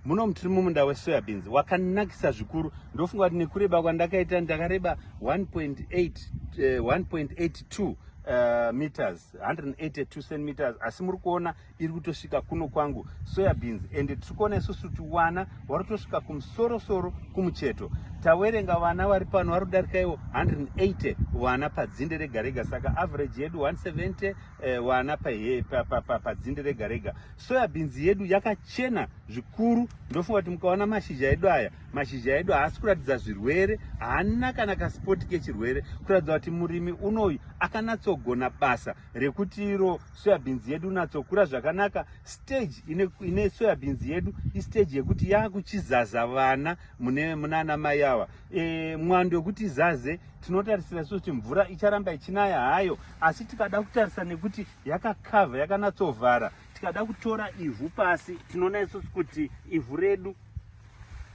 Munomu tiri mumunda wesoyabins wakanakisa zvikuru ndofunga kuti nekureba kwandakaita ndakareba 1.82 uh, eh, meters 182 centimeters asi muri kuona iri kutosvika kuno kwangu soyabins ende tiri kuona isusu kuti vana vari kutosvika kumusorosoro kumucheto tawerenga vana vari pano vari kudarika ivo 180 vana padzinde rega rega saka average yedu 170 eh, wana pahe padzinde pa, pa, rega rega soya bhinzi yedu yakachena zvikuru ndofunga kuti mukaona mashizha edu aya mashizha edu haasi kuratidza zvirwere haana kana kasipoti kechirwere kuratidza kuti murimi unoyu akanatsogona basa rekuti iro soya bhinzi yedu natsokura zvakanaka stage ine, ine soya bhinzi yedu istage yekuti yakuchizaza vana mune munana mai ava e, mwando wekuti izaze tinotarisira so kuti mvura icharamba ichinaya hayo asi tikada kutarisa nekuti yakakavha yakanatsovhara tikada kutora ivhu pasi tinoona isusu kuti ivhu redu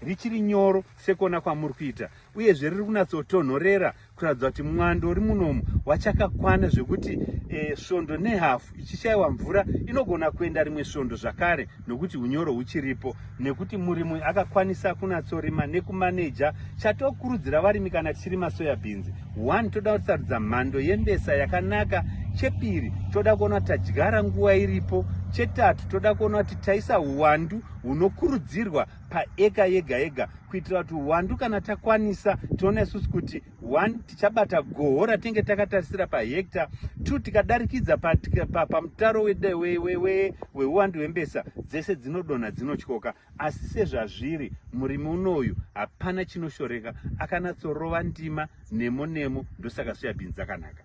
richiri nyoro sekuona kwamuri kuita uyezve riri kunatsotonhorera kuratidza kuti mwando uri munomu wachakakwana zvekuti e, svondo nehafu ichishayiwa mvura inogona kuenda rimwe svondo zvakare nokuti unyoro huchiripo nekuti murimi akakwanisa kunatsorima nekumaneja chatokurudzira varimi kana tichirima soya bhinzi one toda kutisarudza mhando yembesa yakanaka chepiri toda kuona tadyara nguva iripo chetatu toda kuona kuti taisa uwandu hunokurudzirwa paeka yega yega kuitira kuti uwandu kana takwanisa tiona isusu kuti one tichabata goho ratinge takatarisira pahekta two tikadarikidza pamutaro weuwandu hwembesa dzese dzinodonha dzinotyoka asi sezvazviri murimi unoyu hapana chinoshoreka akanatsorova ndima nemo nemo ndosaka soyabhinzi akanaka